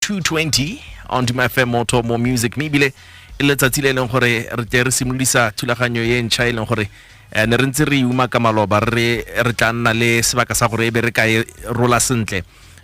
220 on Duma FM Moto Mo Music mme ebile e letsatsi le e leng gore re tle re simolodisa thulaganyo e ntšha e leng gore eh, ne re ntse re e uma ka maloba re re tla nna le sebaka sa gore e be re ka e rola sentle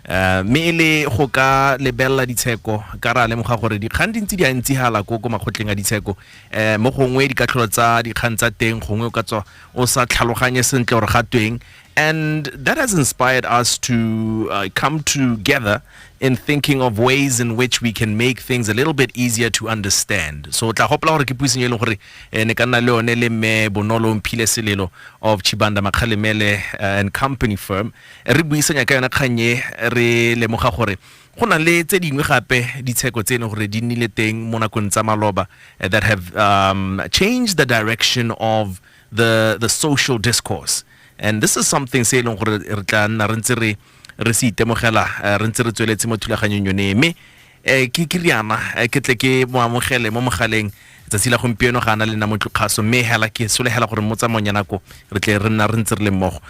Eh, mme e le go ka lebelela ditsheko ka ra lemoga gore dikgang di ntse di a ntsi hala ko ko makgotleng a ditsheko um mo gongwe dikatlholo tsa dikgang tsa teng gongwe o ka tswa o sa tlhaloganye sentle gore ga tweng And that has inspired us to uh, come together in thinking of ways in which we can make things a little bit easier to understand. So tla hopola gore ke puiseng e leng gore eh, ne ka nna le yone le mme Bonolo Mphile Selelo of Chibanda Makhalemele eh, and Company Firm. Re buisanya ka yona kgang e re lemoga gore go na le tse dingwe gape ditsheko tse ne gore di nnile teng mo nakong tsa maloba eh, that have um, changed the direction of the, the social discourse and this is something se e leng gore re tla nna re ntse re re se itemogela eh, re ntse re tsweletse mo thulaganyong yone mme eh, ke ke riana eh, ke tle ke mo amogele mo mogaleng tsatsi la gompieno ga ana le nna motlokgaso mme hela ke solegela gore mo tsamaong ya nako re tle re nna re ntse re le mmogo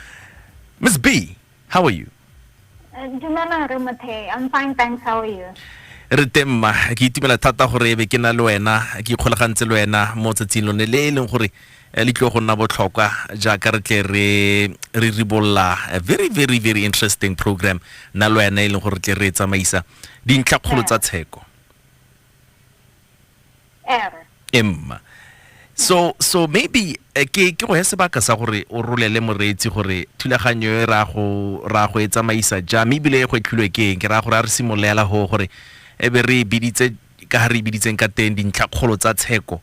miss b How are you? Uh, Dumelang re Mothei. I'm fine, thanks. How are you? re teng mma ke itumela thata gore ebe ke na le wena ke ikgolagantse le wena mo tsatsing lone le e leng gore eh, le tlile go nna botlhokwa jaaka re tle re re ribolola a very very very interesting program na le wena e leng gore re tle re e tsamaisa dintlhakgolo tsa tsheko ere emma so so maybe eh, ke ke go ya sebaka sa gore o rolele moreetsi gore thulaganyo e ra go ra go e tsamaisa jang mme ebile e go etlhilwe ke eng ke ra gore a re simololela go gore e be re e biditse ka ga re e biditseng ka teng dintlhakgolo tsa tsheko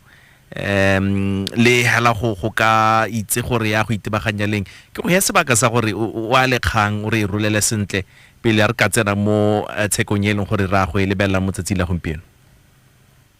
um le hela go go ka itse gore ya go itebaganya leng ke go ya sebaka sa gore o a lekgang o re e rolele sentle pele a re ka tsena mo eh, tshekong e leng gore ra go e lebelela mo tsatsi la gompieno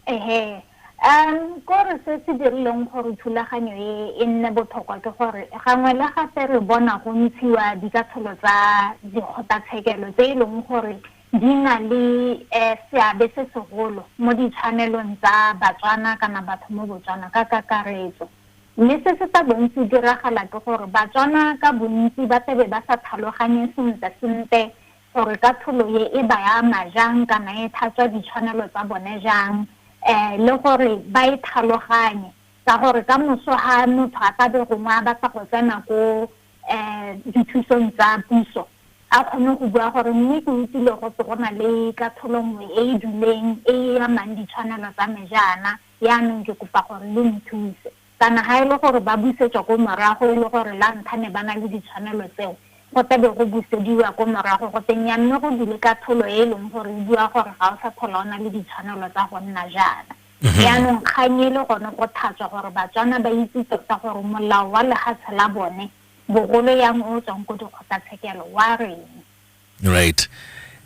Ehe. Um, kore se se dirileng gore thulaganyo e e nne botlhokwa ke gore gangwe le gape re bona go ntshiwa dikatsholo tsa dikgotlatshekelo tse e leng gore di na le um seabe se segolo mo ditshwanelong tsa Batswana kana batho mo Botswana ka kakaretso. Mme se se tla bong se diragala ke gore Batswana ka bontsi ba tlabe ba sa tlhaloganye sentle-sentle gore katlholo e e ba ama jang kana e tlhatswa ditshwanelo tsa bone jang um le gore ba e tlhaloganye ka gore ka moso ga motho a ka be gongwe a batla go tsena ko um dithusong tsa puso a kgone go bua gore mme ke utlwile go se go na le katlholo nngwe e e duleng e e amang ditshwanelo tsa me jaana yaanong ke kopa gore le nthuse Kana ha e le gore ba busetswa ko morago e le gore la ntlha ne ba na le ditshwanelo tseo, go tla be go busediwa ko morago go te nnyaa mme go dule katlholo e e leng gore e bua gore ga o sa tlhola o na le ditshwanelo tsa go nna jaana. Jaanong kgang e le gone go thatswa gore Batswana ba itse tota gore molao wa lehatshe la bone, bogolo yang o o tswang ko dikgotlatshekelo, wa reng. right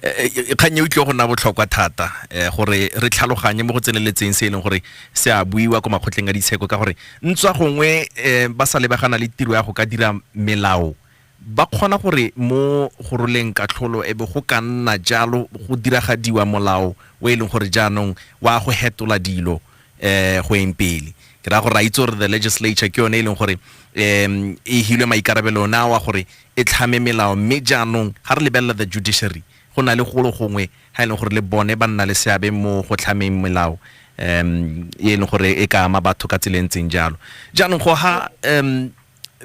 e, e, e, kgang e utlwe go nna botlhokwa thata um gore re tlhaloganye mo go tseneletseng se e leng gore se a buiwa ko makgotleng a ditsheko ka gore ntswa gongwe um ba sa lebagana le tiro ya go ka dira melao ba kgona gore mo go roleng katlholo e be go ka nna jalo go diragadiwa molao o e leng gore jaanong wa go hetola dilo um go eng pele ke raya gore ra itse gore the legislature ke yone e leng gore um e hilwe maikarabelo ona wa gore e tlhame melao mme jaanong ga re lebelela the judiciary go na le golo gongwe ga e leng gore le bone ba nna le seabe mo go tlhameng melao um e leng gore e ka ama batho ka tsela e ntseng jalo jaanong go ha um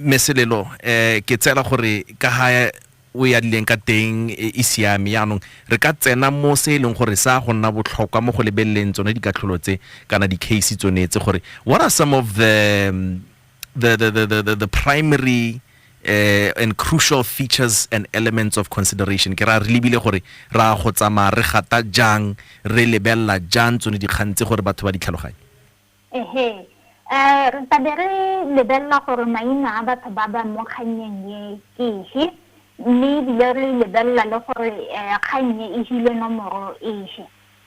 meselelo um ke tsela gore ka ga o e adileng ka teng e e siame yaanong re ka tsena mo se e leng gore sa go nna botlhokwa mo go lebeleleng tsone dikatlholo tse kana di-case tsone tse gore what are some of the um, the the the the, the, the primary uh, and crucial features and elements of consideration ke ra re lebile gore ra go tsamaya re gata jang re lebelela jang tsone dikgang tse gore batho ba di tlhaloganye Ehe. Eh, re tla be re lebelela gore maina a batho ba ba mo kgannyeng ye ke ehe, mme ebile re lebelela le gore eh, kgang e e hile nomoro ehe.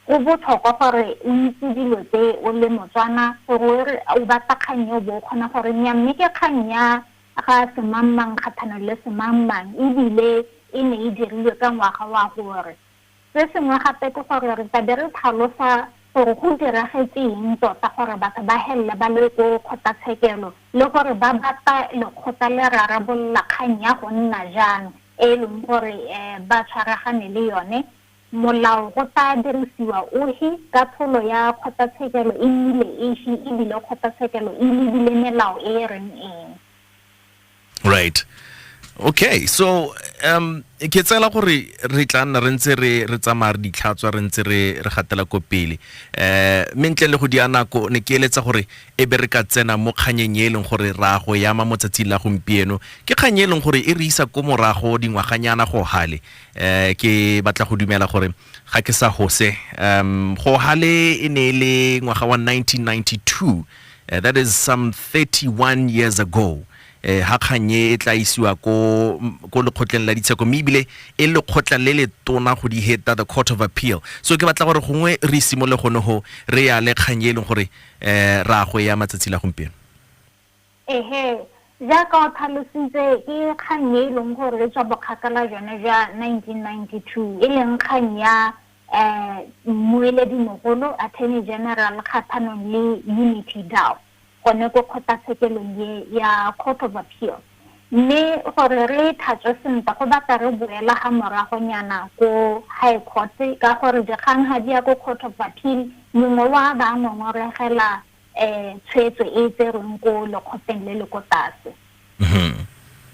Go botlhokwa gore o itse dilo tse o le Motswana gore o re o batla kgang e o bo o kgona gore nya mme ke kgang ya ga semangmang kgathano le semangmang ebile e ne e dirilwe ka ngwaga wa gore Se sengwe gape ke gore re tla be re tlhalosa gore go diragetse eng tota gore batho ba helele ba le ko kgotlatshekelo le gore ba batla lekgotla le rarabolola kgang ya go nna jang e e leng gore ba tshwaragane le yone molao go tla dirisiwa ohi katlholo ya kgotlatshekelo e nnile ehi e bile kgotlatshekelo e lebile melao e e reng eng. right okay so um ke tsela gore re tla nna re ntse re re tsamaya re ditlhatswa re ntse re re gatela ko pele um mme ntle le go di nako ne ke eletsa gore e be re ka tsena mo kganyeng e e leng gore ra go yama mo tsatsing la gompieno ke kgang e leng gore e re isa ko morago dingwaganyana go gale um ke batla go dumela gore ga ke sa gose um go gale e ne e le ngwaga wa 1992 Uh, that is some 31 years ago eh ha khanye e tla isiwa ko ko lekgotleng la ditsheko mme ebile e lekgotla le le tona go di heta the court of appeal so ke batla gore gongwe re simole gone go re ya le khanye e leng gore eh ra go ya matsatsi la gompieno ehe jaaka o tlhalositse ke kgang e e leng gore e tswa bokgakala jone jwa 1992 e leng kgang ya mmueledimogolo, Attorney General, kgatlhanong le Unity Dau gone ko kgotlatshekelong e ya Court of Appeal. Mme gore re e tlhatswe sentle go batla re boela ga moragonyana ko High Court ka gore dikgang ga di ya ko Court of Appeal mongwe wa ba ngongoregela um tshwetso e e tserweng ko lekgotleng le le ko tlase.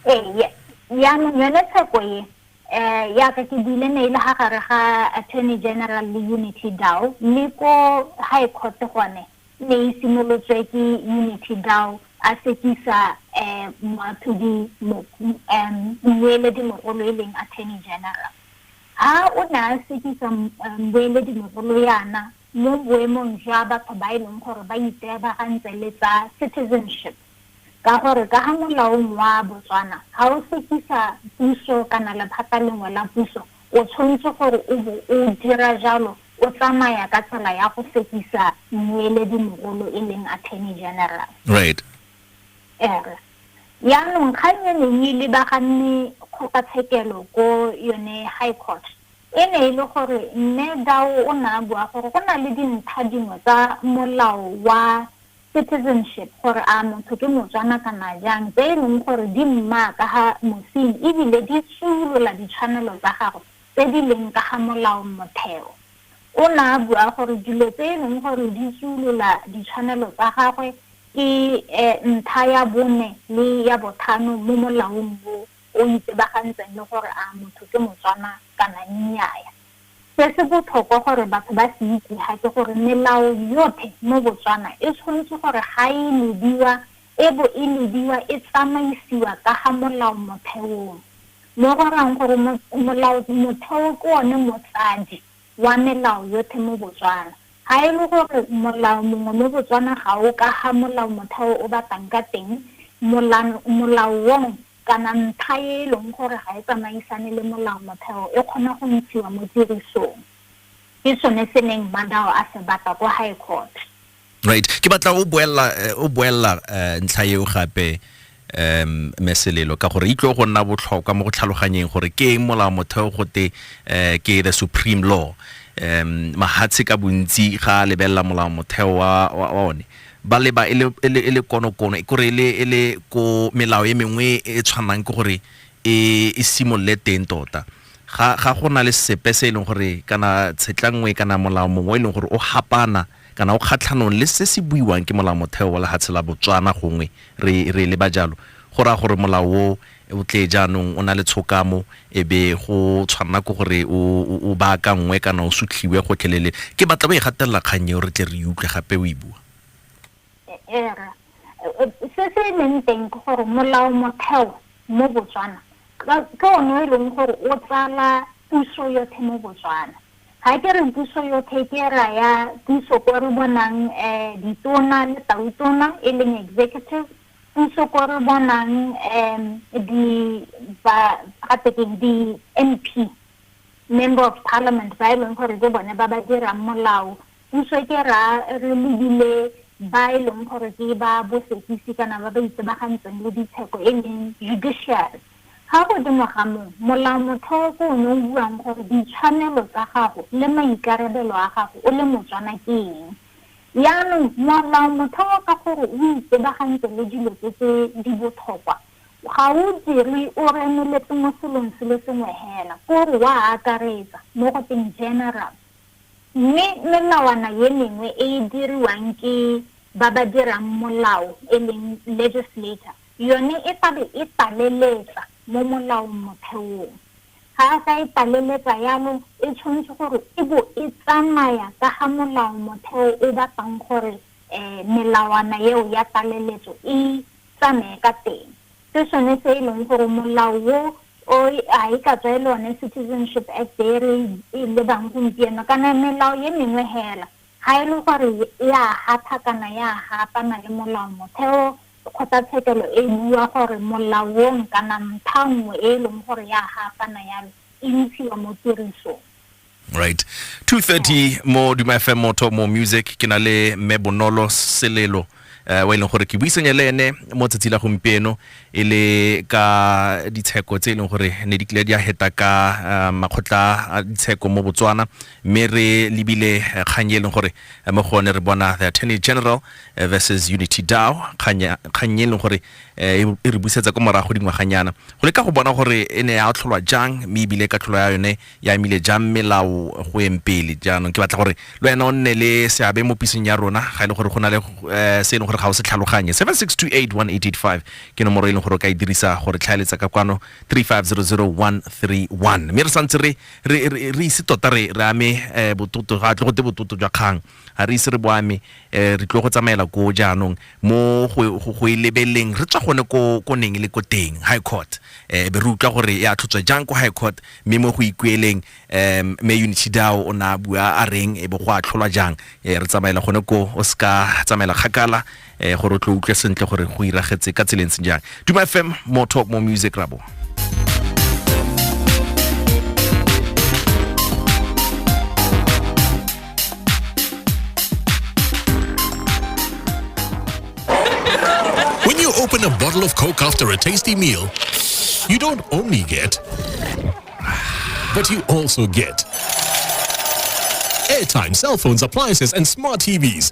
Ee, yaanong yone tsheko e eh yaka ke buile mail ga gare ga attorney general le unity dow le ko high court gone ne e simolotswe ke unity dow a sekisa um moathodi um mmueledi mogolo e leng attorney general ha o ne a sekisa mmueledi mogolo yana mo boemong jwa batho ba e leng gore ba iteabagantse le tsa citizenship Ka gore ka ga molaong wa Botswana ga o sekisa puso kana lephata lengwe la puso o tshwantse gore o bo o dira jalo o tsamaya ka tsela ya go sekisa mmueledi mogolo e leng Attorney General. Right. Ere. Yaanong kgang e neng e lebaganne kgotlatshekelo ko yone High Court e ne e le gore Mme Dau o ne a bua gore go na le dintlha dingwe tsa molao wa citizenship, gore a motho ke Motswana kana jang, tse e leng gore di mmaa ka ga mosing e bile di tsuolola ditshwanelo tsa gagwe tse di leng ka ga molaomotheo. O ne a bua gore dilo tse e leng gore di tsuolola ditshwanelo tsa gagwe ke ntlha ya bone le ya bothano mo molaong o o itsebagantseng le gore a motho ke Motswana kana nnyaya. Se se botlhokwa gore batho ba se itse ha ke gore melao yothe mo Botswana e tshwanetse gore ga e lediwa e bo e lediwa e tsamaisiwa ka ga molao motheong. Mo go rayang gore molao motheo ke one motsadi wa melao yothe mo Botswana. Ga e le gore molao mongwe mo Botswana ga o ka ga molao motheo o batlang ka teng, molao wong kana ntlha e e leng gore ga e tsamaisane le molaomotheo e kgona go ntshiwa mo tirisong. Ke sone se neng Madao a se batla ko High Court. Right. Ke batla o boella eh, o boella eh, ntlha eo gape um meselelo ka gore itlo go nna botlhokwa mo go tlhaloganyeng gore ke eng molao motheo gote um ke the supreme law um mahatshe ka bontsi ga a lebelela molao motheo wa wa- wa one ba leba e le, e le, e le konokono e kore e le, e le ko melao e mengwe e e tshwanang ke gore e, e simolole teng tota ga, ga go na le sepe se e leng gore kana tshetla nngwe kana molao mongwe e leng gore o gapana kana o kgatlhanong le se se buiwang ke molao motheo wa lehatshe la Botswana gongwe re, re leba jalo go raya gore molao o o tle jaanong o na le tshokamo e be go tshwanela ke gore o baakangwe kana o sutlhiwe gotlhelele ke batla o e gatelela kgang eo re tle re utlwe gape o e bua se se e leng teng ke gore molao motheo mo botswana ke one e leng gore o tsala puso yothe mo botswana ga ke re puso yothe ke raya puso ko re bonang um ditona le tautona e leng executive puso ko re bonang um di ba gatekeng di-m p member of parliament ba e leng gore ke bone ba ba dirang molao puso ke ra re lebile ba e leng gore ke ba bosekisi kana ba ba itsebagantseng le ditsheko e leng judiciary ga godimo ga moo molao motheo ko o ne o buang gore ditshwanelo tsa gago le maikarabelo a gago o le motswana ke eng Jaanong, moaparo motheo ka gore o itebagantse le dilo tse tse di bothokwa. Ga o dirwe o remeletse mo selong se le sengwe hela, ko re wa akaretsa, mo go teng general. Mme melawana ye mengwe e e diriwang ke ba ba dirang molao e leng legislator, yone e tla be e taleletsa mo molaong motheong. ga a sa e tlaleletsa yanong e tshwanetse gore e bo e tsamaya ka ga molao motheo o batlang gore um melawana eo ya tlaleletso e tsamaye ka teng se sone se e leng gore molao o o a e ka tswa e le one citizenship act e re e lebang gompieno kana melao ye mengwe hela ga e le gore ya gapha kana ya gapana le molao motheo Kgotlatshekelo e bua gore molaong kana mpha nngwe e e leng gore ya gaafana yalo e ntshiwa mo tirisong. Right. 230 mo Duma FM Motho mo Music ke na le Mme Bonolo Selelo eh, wa e leng gore ke buisanye le ene mo tsatsi la gompieno e le ka ditsheko tse e leng gore ne di kile di a heta ka eh, makgotla a ditsheko mo Botswana mme re lebile eh, kgang e leng gore eh, mo go one re bona the Attorney General eh, versus unity dow kgang e leng gore eh, e, e re busetsa ko morago dingwaganyana go leka go bona gore e ne ya tlholwa jang mme ebile ka tlholo ya yone ya emile jang melao go eng pele jaanong ke batla gore le wena o nne le seabe mo pisong ya rona ga e le gore go na le eh, se e leng gore ga o se tlhaloganye 7628185 ke nomoro e leng gore o ka e dirisa gore tlhaeletsa ka kwano 3500131 mme re santse re ise tota re ame bototo ga tle go te bototo jwa kgang ga re ise re boame um re tlo go tsamaela koo jaanong mo go- go go e lebeleleng re tswa gone ko ko neng e le ko teng high court um be re utlwa gore e atlhotswa jang ko high court mme mo go ikueleng um me unity dao o ne a bua a reng e be go atlholwa jang um re tsamaela gone ko o se ka tsamaela kgakala eh gore o tlo utlwe sentle gore go iragetse ka tseleng se jang duma fm more talk more music rabo When you open a bottle of Coke after a tasty meal, you don't only get, but you also get airtime, cell phones, appliances, and smart TVs.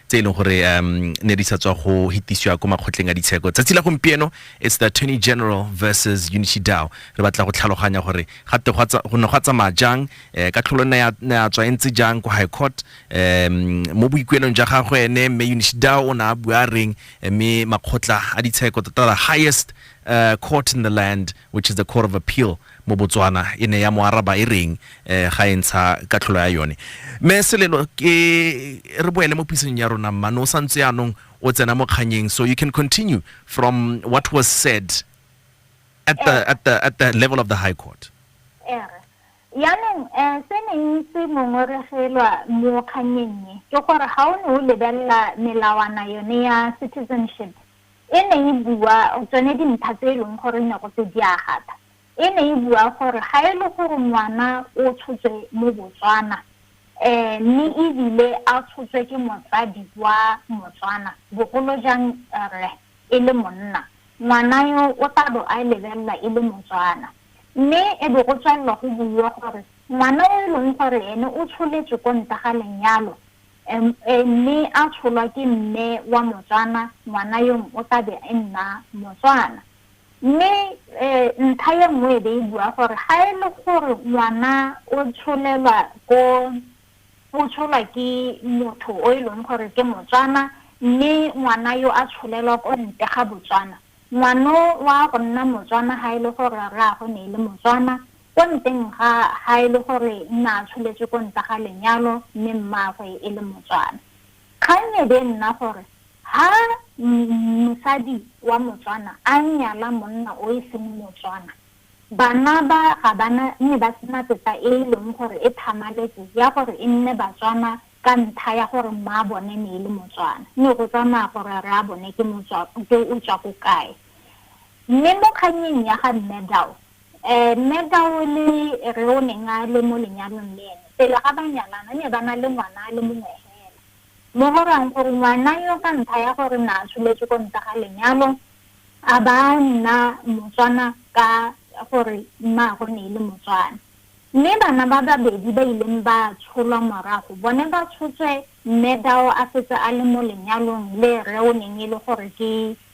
tse e leng gore um ne di sa tswa go hitisiwa ko makgotleng a ditsheko tsatsi la gompieno it's the attorney general versus unity dow re batla go tlhaloganya gore gate go ne go tsamaya jang eh, ka tlholo ne ya tswa e ntse jang ko high court um mo boikuelong ja gagwe ene mme unity dow o ne a bua reng eh, mme makgotla a ditsheko tota the highest uh, court in the land which is the court of appeal mo Botswana e ne ya mo araba e reng eh, ga e ntsha katlholo ya yone mme selelo ke re boele mo pisong ya rona mmane o santse yaanong o tsena mo kganyeng so you can continue from what was said at the, eh. at the, at the level of the high court eh, yaanong um se neng se ngongoregelwa mo kganyeng ke gore ga o ne o lebelela melawana yone ya citizenship E ne e bua tsone dintlha tse e leng gore ne go se di a gata. E ne e bua gore ga e le gore ngwana o tshotswe mo Botswana mme ebile a tshotswe ke motsadi wa Motswana, bogolo jang rre e le monna, ngwana yo o tla bo a lebelelwa e le Motswana. Mme e be go tswelelwa go buiwa gore ngwana o e leng gore ene o tsholetswe ko ntle ga lenyalo MA mme a tsholwa ke mme wa Motswana, ngwana yong o tla be e nna Motswana. Mme ntlha e nngwe e be e bua gore ga e le gore ngwana o tsholelwa ko o tsholwa ke motho o e leng gore ke Motswana mme ngwana yo a tsholelwa ko ntle ga Botswana, ngwano wa go nna Motswana ga e le gore rraagwe ne e le Motswana Ko nteng ga ga e le gore nna a tsholetswe ko nta ga lenyalo mme mmaagwe e le Motswana. Kgang e be e nna gore ha mosadi wa Motswana a nyala monna o e seng Motswana, bana ba ga ba na nne ba sena tetla e e leng gore e tlhamaletse ya gore e nne Batswana ka ntlha ya gore mmaabone ne e le Motswana. Ne go tsamaya gore rraabone ke o tswa ko kae. Mme mo kgannyeng ya ga Mme Dau, Ee, Mme Tau le Rre o neng a le mo lenyalong le ene, pele ga ba nyalana, ne ba na le ngwana a le mongwe fela. Mo go rayang gore ngwana yo ka ntlha ya gore na a tsholetswe ko ntle ga lenyalo, a ba a nna Motswana ka gore mmaagwe ne e le Motswana. Mme bana ba babedi ba ileng ba tsholwa morago, bone ba tshotswe Mme Tau a setse a le mo lenyalong le Rre o neng e le gore ke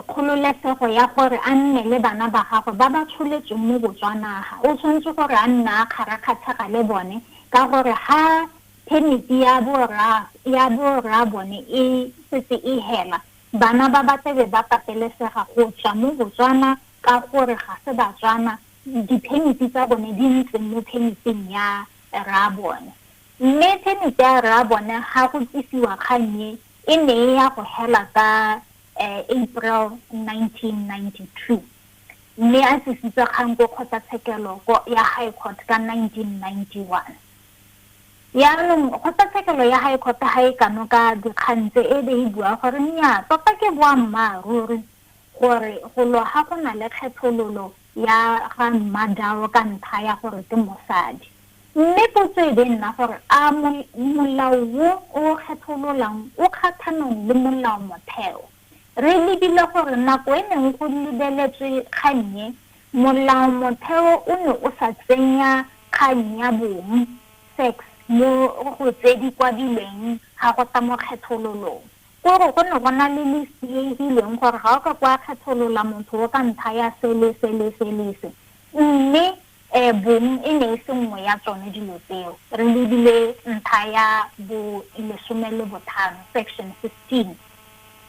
kgololesego ya gore a nne le bana ba gagwe ba ba tsholetsweng mo Botswanaga. O tshwanetse gore a nna a kgarakgatshega le bone ka gore ha phemiti ya borra ya borra bone e setse e hela, bana ba ba tlebe ba patelesega go tswa mo Botswana ka gore ga se Batswana, diphemiti tsa bone di ntse mo phemiting ya rraabone. Mme phemiti ya rraabone ga go tlisiwa kgang e, E ne ya go hela ka April 1992, mme a tsisitse kgang ko kgotlatshekelo ya High Court ka 1991. Jaanong kgotlatshekelo ya High Court ga e kanoka dikgang tse, e be e bua gore nnyaa, tota ke boammaaruri gore go lwa ga go na le kgethololo ya ga Mmadao ka ntlha ya gore ke mosadi. Mme potso e be e nna gore a molao wo o o kgethololang o kgathanong le molao-motheo. Re lebile gore nako e neng go lebeletswe kgang e, molao-motheo o ne o sa tsenya kgang ya bong, sex, mo go tse di kwadilweng ga go tla mo kgethololong. Ke gore go ne go na le le sieegileng gore ga o ka kwa kgetholola motho o ka ntlha ya se le se le se le se. Mme um bong e ne e se nngwe ya tsone dilo tseo. Re lebile ntlha ya bo lesome le bothano, section 15.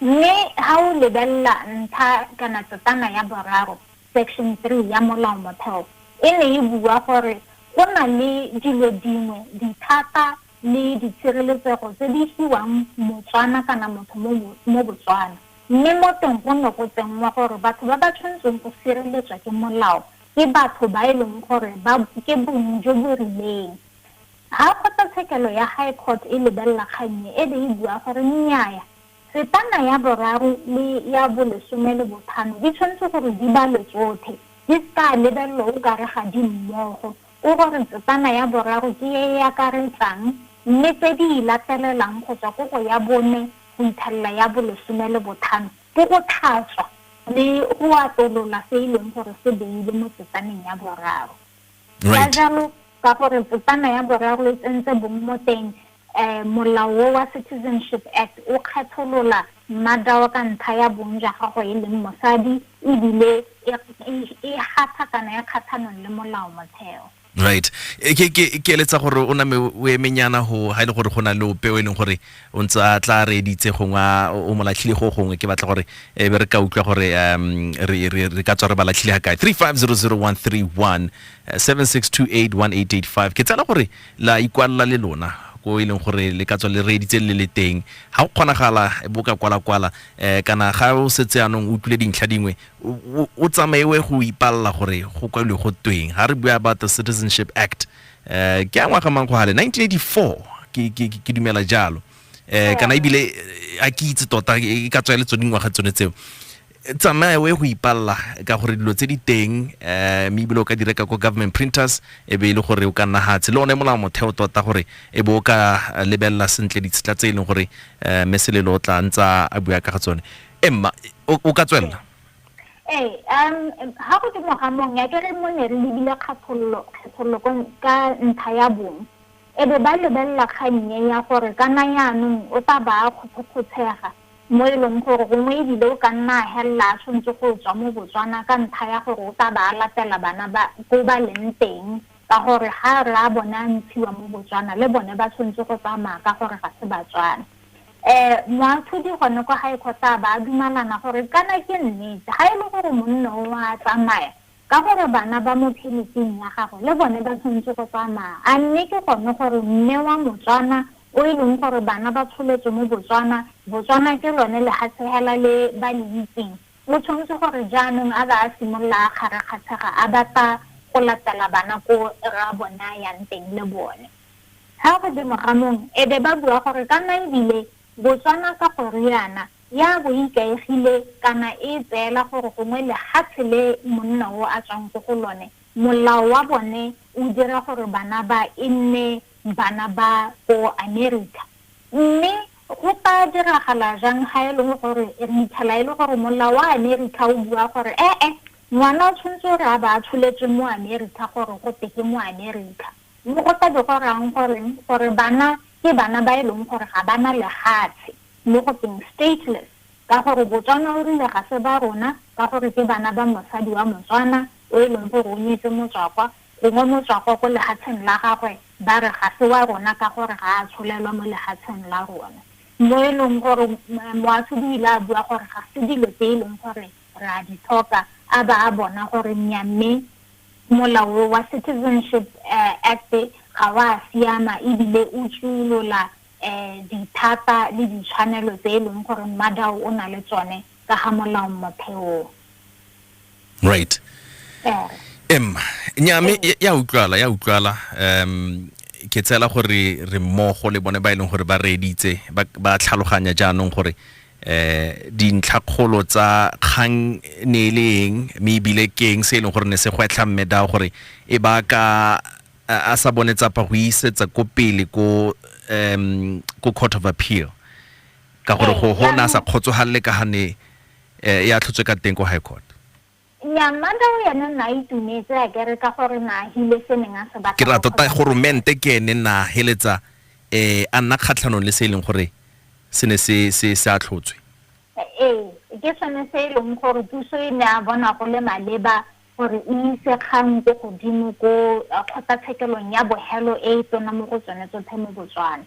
Mme ha o lebelela ntlha kana tsetana ya boraro, section 3, ya molao motheo, e ne e bua gore go na le dilo dingwe, dithata le ditshireletsego tse di fiwang Motswana kana motho mo mo Botswana, mme mo teng go ne go tsenngwa gore batho ba ba tshwanetseng go sireletswa ke molao ke batho ba e leng gore ba ke bong jo bo rileng. Ha kgotlatshekelo ya High Court e lebelela kgang e, e be e bua gore nnyaya, setana ya boraro le ya bolesome le bothano di tshwanetse gore di balwe tsothe, di se ka lebelelwa o kare ga di mmogo, O gore tsetsana ya boraro ke e e akaretsang, mme tse di e latelelang go tswa ko go ya bone go itlhelela ya bolesome le bothano ke go tlhatswa le go atolola se e leng gore se beilwe mo tsetsaneng ya boraro. Ka jalo, ka gore tsetsana ya boraro e tsentse bong mo teng, um molao o wa Citizenship Act o kgetholola Madao ka ntlha ya bong jwa gagwe e leng mosadi e bile e, e, e gasa kana e kgatlhanong le molao motheo. right e ke ke ke eletsa gore o name o emenyana go ga ile gore go na le ope o e leng gore o ntse a tla re editse gongwe a- o mo latlhile go gongwe ke batla gore e be re ka utlwa gore um re re re ka tswa re ba latlhile ga kae 3500131 76281885 ke tsela gore la ikwalela le lona ko e leng gore le ka tswa le reeditse le le teng ga go kgonagala e bo ka kwala-kwala um kana ga o setse anong o utlwile dintlha dingwe o tsamaewe go ipalela gore go kwalwe go tweng ga re bua about the citizenship act um ke a ngwaga mang go gale 1984 ke dumela jalo um kana ebile a ke itse tota e ka tswa e le tsone dingwaga tsone tseo tsamaya o ye go ipalela ka gore dilo tse di teng um mme ebile o ka di reka ko government printers e be e le gore o ka nna gatshe le one molao motheo tota gore e be o ka eh, lebelela sentle ditshetla tse e leng gore um mme selelo o tla ntsa a bua ka ga tsone emma o o ka tswelela ee um ga go temo ga mong ya kere mo ne re lebile kgethololo kgethololo ko- ka ntlha ya bong e bo ba lebelela kgang e ya gore kana jaanong o tla ba a kgothokgotshega mo e leng gore gongwe e bile o ka nna a helela a swentse go tswa mo Botswana ka ntlha ya gore o tla ba a latela bana ba ko ba leng teng ka gore ga re a bone a ntshiwa mo Botswana le bone ba swentse go tsamaya ka gore ga se Batswana. Um moatlhodi gone kwa gae kgotla a ba a dumalana gore kana ke nnete ga e le gore monno o a tsamaya Ka gore bana ba mo pheletseng ya gagwe le bone ba tshwanetse go tsamaya. A mme ke gone gore mme wa Motswana o e leng gore bana ba tsholetswe mo Botswana, Botswana ke lone lehatshehela le ba le itseng, o tshwanetse gore jaanong a ba a simolola a kgarakgatshega a batla go latela bana ko rra bone a yang teng le bone. Ga godimo ga mong e be ba bua gore ka maebile Botswana ka go riana ya bo e ikaegile kana e e tseela gore gongwe lehatshe le monna o a tswang ko go lone, molao wa bone o dira gore bana ba e nne bana ba ko America. Mme go ka diragala jang ha e le gore re itlhela e le gore molao wa America o bua gore e-e, ngwana o tshwanetse o re a ba a tsholetswe mo America gore go te ke mo America? Mme go tla be go rayang goreng? Gore bana ke bana ba e leng gore ga ba na lehatshe, mo go teng stateless, ka gore Botswana o rile ga se ba rona, ka gore ke bana ba mosadi wa Motswana o e leng gore o nyetse Motswakwa, gongwe Motswakwa ko lehatsheng la gagwe ba re ga se wa rona ka gore ga a tsholelwa mo lehatsheng la rona. Mo e leng gore Moahlodi o ile a bua gore ga se dilo tse e leng gore re a di tlhoka, a ba a bona gore nnyaa mme, Molao wa Citizenship Act ga wa siama ebile o tsuolola dithata le ditshwanelo tse e leng gore Madao o na le tsone ka ga molao motheong. Right. Em, nya me ya utlwala, ya utlwala. Um ke tsela gore re mmogo le bone ba e leng gore ba reeditse ba tlhaloganya jaanong gore eh dintlhakgolo tsa kgang ne e le eng mme ebile ke eng se e leng gore ne se gwetlha mme dao gore e ba ka a a sa bone tsapa go isetsa ko pele ko um ko court of appeal ka gore Ee, go go ne a sa jaanong- kgotsogalele ka ga ne eh, ya tlhotswe ka teng ko high court Nnyaa, Manda o ene nna a itumetse a kere ka gore na a hile se neng a se batla go Ke ra tota kgothatsa goromente ke ene nna a heletsa eh, a nna kgatlhanong le se e leng gore se ne se, se, se atlhotswe. Ee, ke sone se e leng gore puso e ne a bona go le maleba gore e ise kgang ko godimo ko eh, kgotlatshekelong ya bohelo e e tona mo go tsone tsotlhe mo Botswana.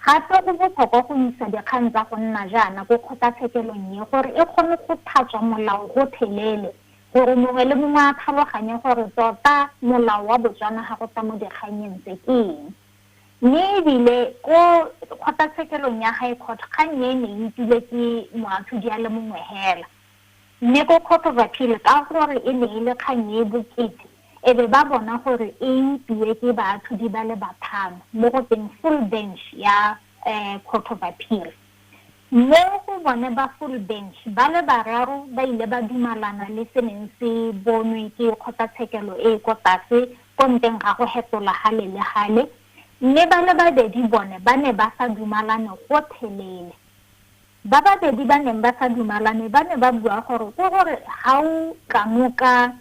Gape go botlhokwa go isa dikgang tsa go nna jaana ko kgotlatshekelong e gore e kgone go thatswa molao gotlhelele, gore mongwe le mongwe a tlhaloganye gore tota molao wa Botswana ga go tla mo dikganyeng tse ke eng. Mme e bile ko kgotlatshekelong ya High Court kgang e ne e utlwilwe ke moatlhodi a le mongwe hela. Mme ko Cotopaxi ka gore e ne e le kgang e e bokete e be ba bona gore e upiwe ke baatlhodi ba le bathano mo go teng full bench ya Cotopaxi. Mo go bone ba full bench ba le bararo ba ile ba dumalana le se neng se bonwe ke kgotlatshekelo e e ko tlase ko nteng ga go hetola gale le gale, mme ba le babedi bone ba ne ba sa dumalane gotlhelele. Ba babedi ba neng ba sa dumalane ba ne ba bua gore ke gore ga o tlamo ka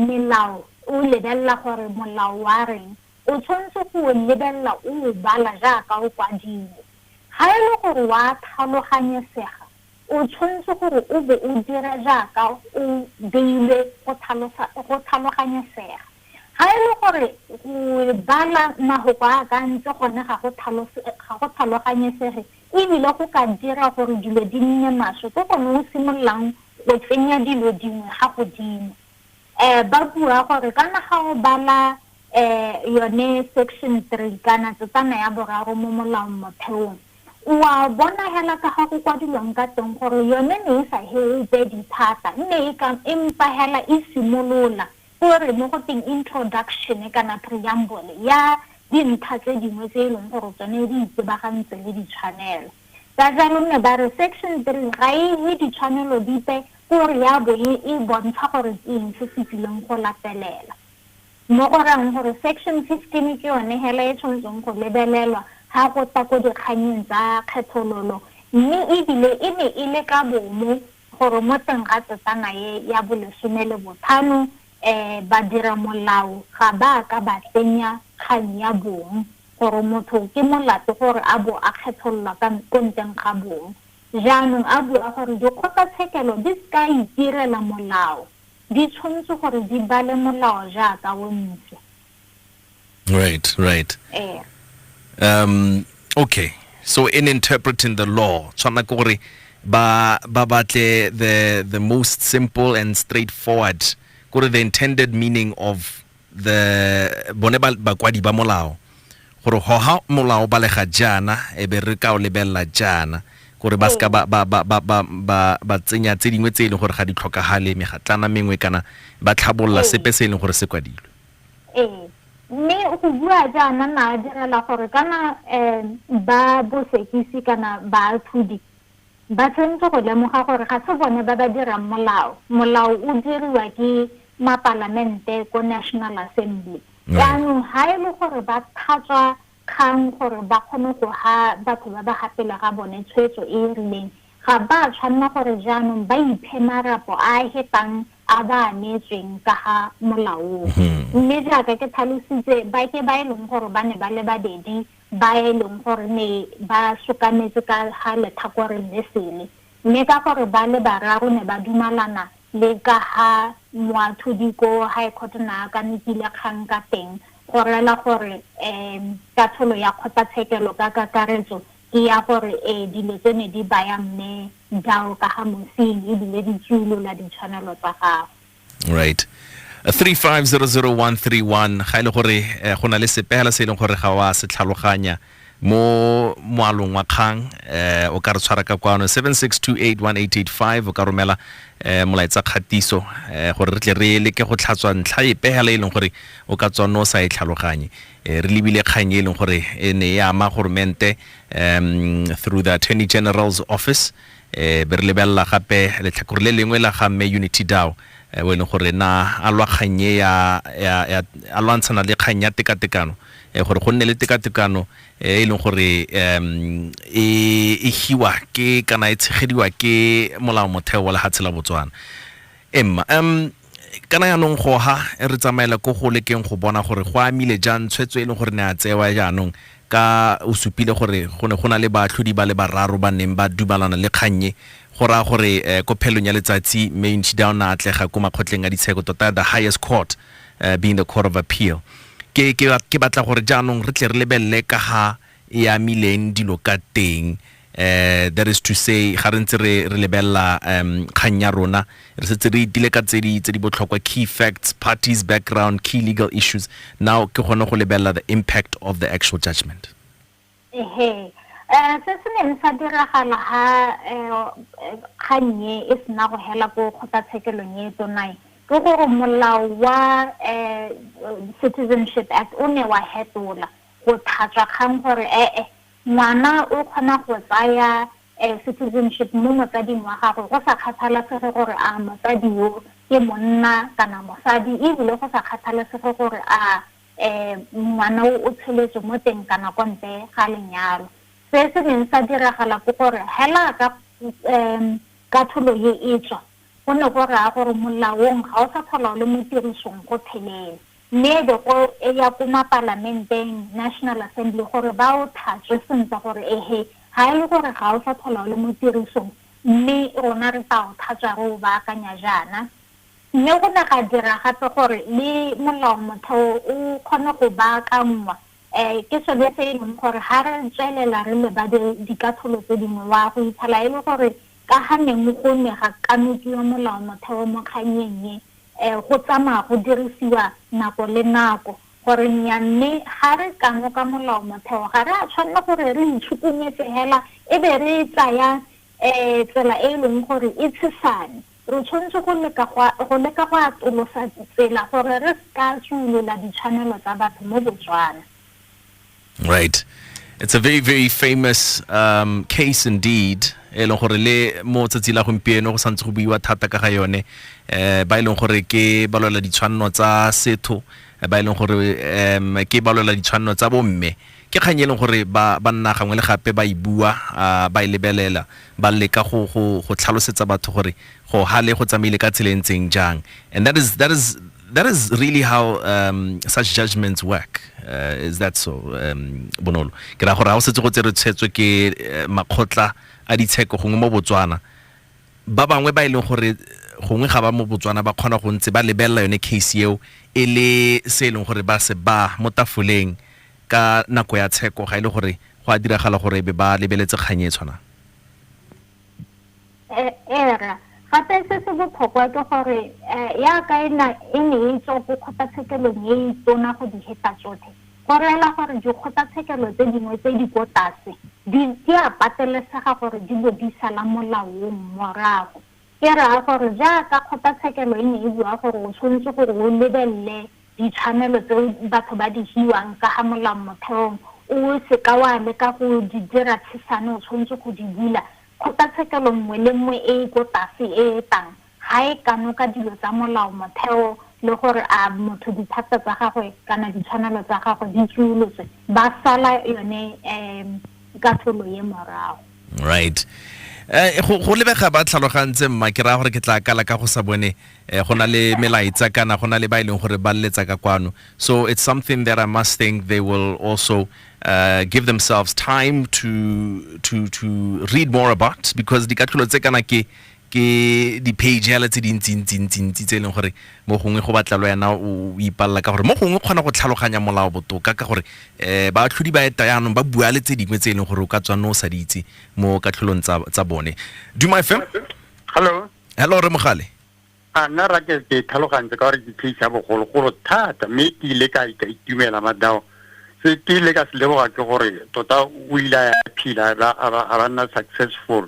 melao o lebelela gore molao wa reng, o tshwanetse go o lebelela o o bala jaaka o kwadilwe. Ga e le gore wa tlhaloganyesega, o tshwanetse gore o bo o dira jaaka o beilwe go tlhaloganyesega. Ga e le gore go bala mafoko a a ka ntse gone ga go tlhaloganyesege, e bile go ka dira gore dilo di nne maswe ke gone o simololang go tsenya dilo dingwe ga godimo um ba bua gore kana ga o bala um yone section three kana tsetana ya boraro mo molaong motheong o a bona hela ka ga go kwadilwang ka teng gore yone ne e sa heope dithata mme e empa hela e simolola Go re mo go teng introduction kana preamble ya dintlha tse dingwe tse e leng gore tsone di itebagantse le ditshwanelo. Ka jalo nne ba re section three ga e he ditshwanelo dipe ko re ya bo e e bontsha gore ke eng se se tsileng go latelela. Mo go rayang gore section fifteen ke yone hela e tshwanetseng go lebelelwa ha go tla ko dikganyeng tsa kgethololo mme ebile e ne e le ka bomo gore mo teng ga tsetsana e ya bolesome le bothano um badira molao ga ba a ka ba tsenya kgang ya bong gore motho ke molato gore a bo a kgethololwa ka ko nteng ga bong jaanong a bua gore dikgotlatshekelo di se ka itirela molao di tshwanetse gore di bale molao jaaka o ntse Right, right. Eh. Um, okay. So in interpreting the law, tshwana ke gore ba ba batle the the most simple and straightforward gore the intended meaning of the bone bakwadi ba molao gore hoha molao ba lega jana e be re ka o lebella jana gore ba ska ba ba ba ba ba ba ba tsenya tse dingwe tse e leng gore ga di tlhokagale megatlana mengwe kana ba tlhabolola sepe se e leng gore se kwadilwe Ee, mme go bua jaana na direla gore kana um ba bosekisi kana baatlhodi ba tshwanetse go lemoga gore ga se bone ba ba dirang molao. Molao o diriwa ke mapalamente ko National Assembly. Jaanong ga e le gore ba thatswa kgang gore ba kgone go ha batho ba ba gapela ga bone tshwetso e e rileng, ga ba a tshwanela gore jaanong ba iphe marapo a a hepang a ba a neetsweng ka ga Molao oo. Mme jaaka ke tlhalositse, ba ke ba e leng gore ba ne ba le babedi ba e leng gore ne ba sokametse ka ga letlhakoreng le sele, Mme ka gore ba le bararo ne ba dumalana le ka ga moathodi ko High Court na ka nepile kgang ka teng, go rela gore um katsholo ya kgotlatshekelo ka kakaretso ke ya gore ee dilo tse ne di baya Mme Dau ka ga Mosing ebile di tsuolola ditshwanelo tsa gagwe. right 3500131 ga ile e gore eh, go na le sepehela se e leng gore ga wa se tlhaloganya mo moalong wa kgang eh o ka re tshwara ka kwano 76281885 o ka romela eh molaetsa kgatiso eh gore re tle re leke go tlhatswa ntlha e pehela e leng gore o ka tswa no sa e tlhaloganye eh, re lebile kgang e leng gore e ne ya ama goromente um through the attorney general's office Eh, be re lebelela gape letlhakore le lengwe la ga mme unity dow eh, o e leng gore na a lwa kgang e ya, ya, ya a lwantshana le kgang ya tekatekano eh, gore go nne le tekatekano eh, e leng gore em, e e hiwa ke kana e tshegediwa ke molao motheo wa lehatshe la botswana emma um kana yaanong goha e re tsamaela ko go lekeng go bona gore go amile jang tshwetso e leng gore ne a tsewa jaanong ka o supile gore go ne go na le baatlhodi ba le bararo ba neng ba dumalana le kgannye go raya gore um ko phelong ya letsatsi mme ntšhida o ne a atlega ko makgotleng a ditsheko tota the highest court uh, being the court of appeal ke, ke, ke batla gore jaanong re tle re lebelele ka ga e amileng dilo ka teng eh that is to say ga re ntse re re lebella um kgang ya rona re setse re itile ka tse di tse di botlhokwa key facts parties background key legal issues now ke gone go lebella the impact of the actual judgment ehe eh se se neng sa diragala ha eh, kgannye e sena go hela ko kgotlatshekelong e tsonae ke gore molao wa eh, citizenship act o ne wa hetola go tlhatswa kgang gore e-e ngwana o kgona go tsaya citizenship mo motsading wa gagwe go sa kgathalesege gore a motsadi yo ke monna kana mosadi ebile go sa kgathalesege gore a um ngwana o o tsheletswe mo teng kana kwa ntle ga lenyalo se se neng sa diragala ke gore hela ka um katholo ye e tswa Go ne go raya gore molaong ga o sa tlhola o le mo tirisong gotlhelele, mme e be go ya ko mapalamenteng, National Assembly, gore ba o tlhatswe sentle gore ehe, ga e le gore ga o sa tlhola o le mo tirisong mme rona re tla o tlhatswa re o baakanya jaana. Mme go ne ga dira gape gore le Molao-motheo o kgone go baakanngwa um ke sone se e leng gore ga re tswelela re lebade dikatlholo tse dingwe wa go itlhela e le gore ka ga neng go ne ga kanokiwa molao motheo mo kganyeng e um go tsamaya go dirisiwa nako le nako gore nya mme ga re kanoka molao motheo ga re a tshwanela gore re itshukunyetse hela e be re tsaya Ee, tsela e e leng gore e tshesane. Re tshwanetse go leka go go leka go atolosa tsela gore re se ka tswulola ditshwanelo tsa batho mo Botswana. Right. It's a very, very famous um, case indeed. e leng gore le mo tsatsi la gompieno go santse go buiwa thata ka ga yone um ba e leng gore ke ba lwela ditshwanelo tsa setho ba e leng gore um ke ba lwela ditshwanelo tsa bomme Ke kgang e leng gore ba ba nna gangwe le gape ba e bua, a ba e lebelela, ba leka go go go tlhalosetsa batho gore go hale go tsamaile ka tsela e ntseng jang. And that is that is that is really how um, such judgments work. Uh, is that so um, bonolo? Ke ra gore ha o setse go tsere tshwetso ke eh, makgotla a ditsheko gongwe mo Botswana ba bangwe ba e leng gore gongwe ga ba mo botswana ba kgona go ntse ba lebelela yone case eo e le se e leng gore ba se ba mo tafoleng ka nako ya tsheko ga e le gore go a diragala gore be ba lebeletse kgang e tshwanang era gape se se botlhokwa ke gore eh, yaka e ne e tswa ko kgotlatshekelong e e tona go di heta tsotlhe go reela gore dikgotlatshekelo tse dingwe tse di ko tlase di a patelesega gore di bo di sala molaong morago ke raya gore jaaka kgotlatshekelo e ne e bua gore o tshwanetse gore o lebelele Ditshwanelo tse batho ba di hiwang ka ga molao motheong, o se ka wa leka go di dira tshesane, o tshwanetse go di bula. Kgotlatshekelo nngwe le nngwe e e ko tase e etang ga e kanoka dilo tsa molao motheo le gore a motho dithata tsa gagwe kana ditshwanelo tsa gagwe di tsuolotswe, ba sala yone katlholo ye morago. right eh go go lebega ba tlhalogantse mma ke raya gore ke tla kala ka go sa bone eh, go na le melaetsa kana go na le ba e leng gore ba leletsa ka kwano so it's something that i must think they will also uh, give themselves time to to to read more about because dikatlholo tse kana ke ke di-page hela tse dintsi-ntsi-ntsi-ntsi tse e leng gore mo gongwe go batla lo yana o ipalela ka gore mo gongwe kgona go tlhaloganya molao botoka ka gore um baatlhodi ba eta yaanong ba bua le tse dingwe tse e leng gore o ka tswanne o sa di itse mo katlholong tsa bone duma fm hello hello re mogale a nna ra ke ke tlhalogantse ka gore ke case ya bogologolo thata mme ke ile ka ka itumela madao se ke ile ka se leboga ke gore tota o ile a phila a ba nna successful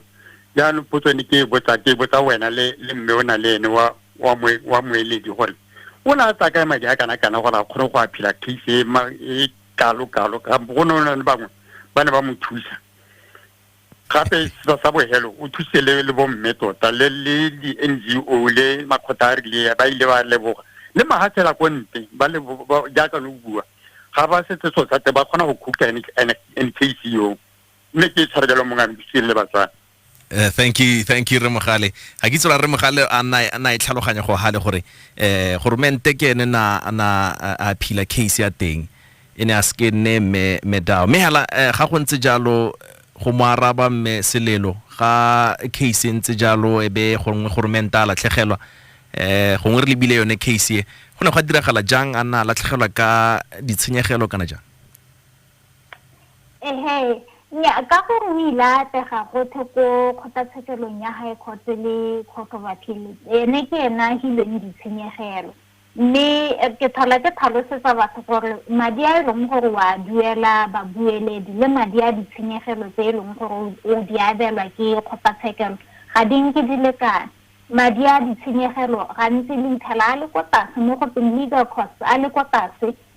jaanong potso ne ke e botsa ke e botsa wena le le mme o na le ene wa wa moe wa moeledi gore o ne a tsaya kae madi a kana kana gore a kgone go a phela case e ma e kalo kalo ka go ne le bangwe ba ne ba mo thusa gape sa sa bohelo o thuse le le bomme tota le le di NGO le makgotha a rile ba ile ba leboga le mahatshela ko ntle ba le jaaka no bua ga ba setse so tsate ba kgona go khukta NKC yo mme ke tshware jalo mongwe a mpitseng le batswana Uh, thank you thank you remogale ga ke tsola remogale a na e tlhaloganya go gale gore eh goromente ke ene na na a phila case ya teng e ne a seke nne me medao me hala eh, ga go ntse jalo go mo araba mme selelo ga case e ntse jalo e be gongwe goromente a latlhegelwa eh gongwe re lebile yone case e go ne go diragala jang a na latlhegelwa ka ditshenyegelo kana jang Ehe, nnyaa, ka gore o ile a atlega gotlhe ko kgotlatshekelong ya High Court le Court of Appeal, ene ke ene a hilweng ditshenyegelo. Mme ke tlhola ke tlhalosetsa batho gore madi a e leng gore o a duela babueledi le madi a ditshenyegelo tse e leng gore o di abelwa ke kgotlatshekelo ga di nke di lekana. Madi a ditshenyegelo gantsi le itlhela a le ko tlase mo go teng legal costs a le ko tlase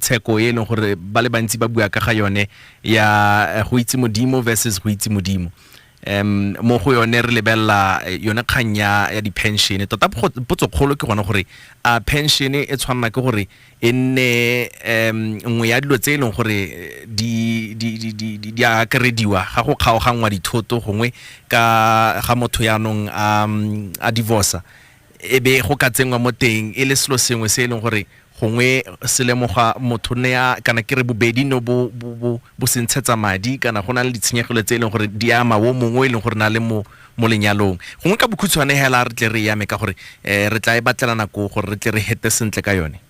tsheko e leng gore ba le bantsi ba bua ka ga yone ya go itse modimo versus go itse modimo um mo go yone re lebelela eh, yone kgang ya ya di-pension tota go- potso kgolo ke gone gore a pension e tshwanela ke gore e nne um nngwe ya dilo tse e leng gore eh, di di- di- di- di- di a akarediwa ga go kgaoganngwa dithoto gongwe ka ga motho yaanong a mm, a divorca e be go ka tsenngwa mo teng e le selo sengwe se e leng gore gongwe se lemoga motho ne ya kana ke re bobedi no bo bo bo bo se ntshetsa madi kana go na le ditshenyegelo tse e leng gore di ama wo mongwe e leng gore na le mo mo lenyalong gongwe ka bokhutshwane hela re tle re yame ka gore eh, re tla e batlela nako gore re tle re hete sentle ka yone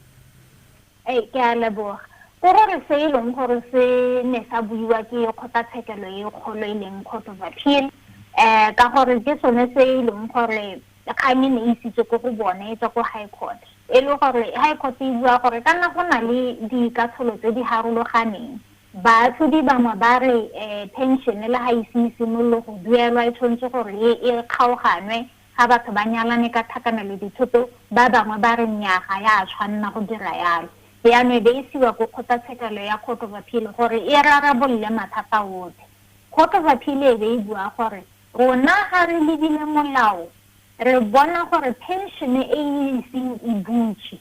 ee ke a leboga ke gore se e leng gore se ne sa buiwa ke kgotlatshekelo e kgolo e leng court of appeal um ka gore ke sone se e leng gore Kgang e ne e isitswe ko go bone e tswa ko High Court, e le gore High Court e bua gore ka nna go na le dikatsholo tse di harologaneng. Baatlhodi bangwe ba re pension le ga ise e simolole go duelwa e tshwanetse gore e kgaoganwe ga batho ba nyalane ka tlhakanelo dithoto, ba bangwe ba re nnyaa ga ya a tshwanna go dira yalo. Yano e be e isiwa ko kgotlatshekelo ya Court of Appeal gore e rarabolole mathata otlhe. Court of Appeal e be e bua gore Rona ga re lebile molao, re bona gore phenšene e e iseng e butswe.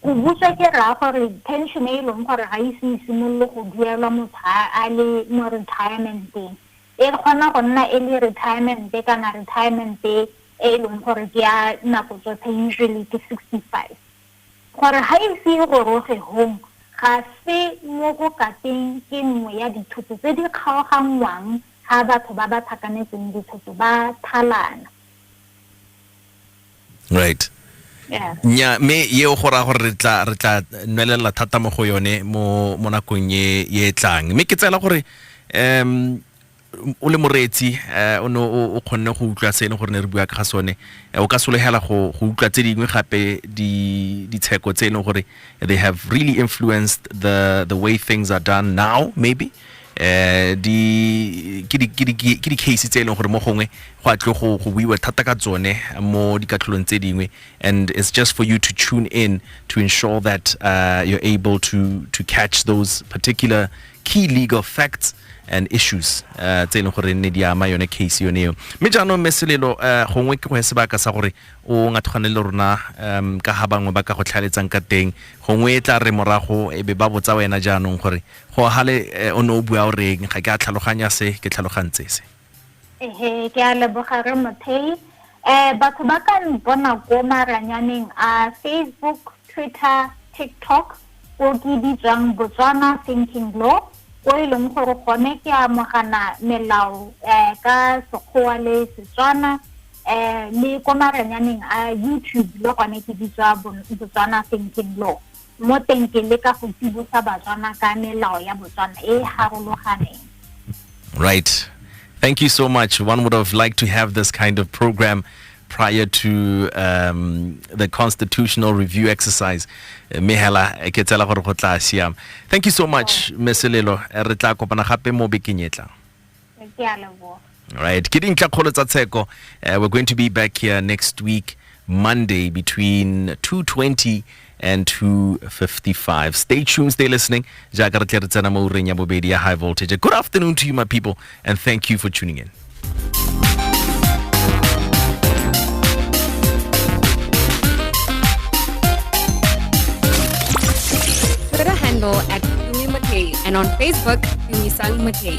Go butswa ke raya gore phenšene e e leng gore ga e ise e simolole go duelwa motho a le mo retirementeng, e kgona go nna e le retiremente kana retiremente e e leng gore ke ya nako tsotlhe, usually ke sixty five. Gore ga e ise e goroge hong, ga se mo go kateng ke nngwe ya dithoto tse di kgaoganngwang. ga batho ba ba tlhakanetseng dithoto ba thalana right nya me ye o gora gore re tla re tla nwelela thata mo go yone mo mo nakong ye ye tlang me ke tsela gore um o le moreetsi eh, o ne o kgonne go utlwa se ne gore ne re bua ka ga sone eh, o ka solegela go go utlwa tse dingwe gape di ditsheko tse ne gore they have really influenced the the way things are done now maybe eh di ke di ke di ke di case tse e leng gore mo gongwe go a tle go go buiwa thata ka tsone mo dikatlholong tse dingwe and it's just for you to tune in to ensure that uh, you're able to to catch those particular key legal facts and issues uh, tse e leng gore ne di ama yone case yone eo mme jaanong mme selelo uh, gongwe ke go ya sebaka sa gore o ngathogane le rona um ka ga bangwe ba ka go tlhaeletsang ka teng gongwe e tla re morago e be ba botsa wena jaanong gore go hale eh, o ne o bua o reng ga ke a tlhaloganya se ke tlhalogantse se ehe ke a leboga re mothei um batho ba ka mpona ko maranyaneng a facebook twitter tiktok ko ke bitswang botswana thinking law ko e leng gore gone ke amogana melao um ka sekgowa le setswana um le ko maranyaneng a youtube le gone ke bitswa botswana thinking law Mo teng ke leka go tsibosa Batswana ka melao ya Botswana e e harologaneng. Right. Thank you so much. One would have liked to have this kind of program prior to um, the constitutional review exercise. Mehela, Thank you so much, Meselelo. Re tla kopana gape mo bekeng e tlang. ke a leboga right ke dintlha kgolo tsa tsheko uh, we're going to be back here next week monday between 220 and 255 stay tuned stay listening jaaka re tle re tsena mo ureng ya bobedi ya high voltage good afternoon to you my people and thank you for tuning in Twitter handle at Umi McKay and on Facebook Nissan Matei.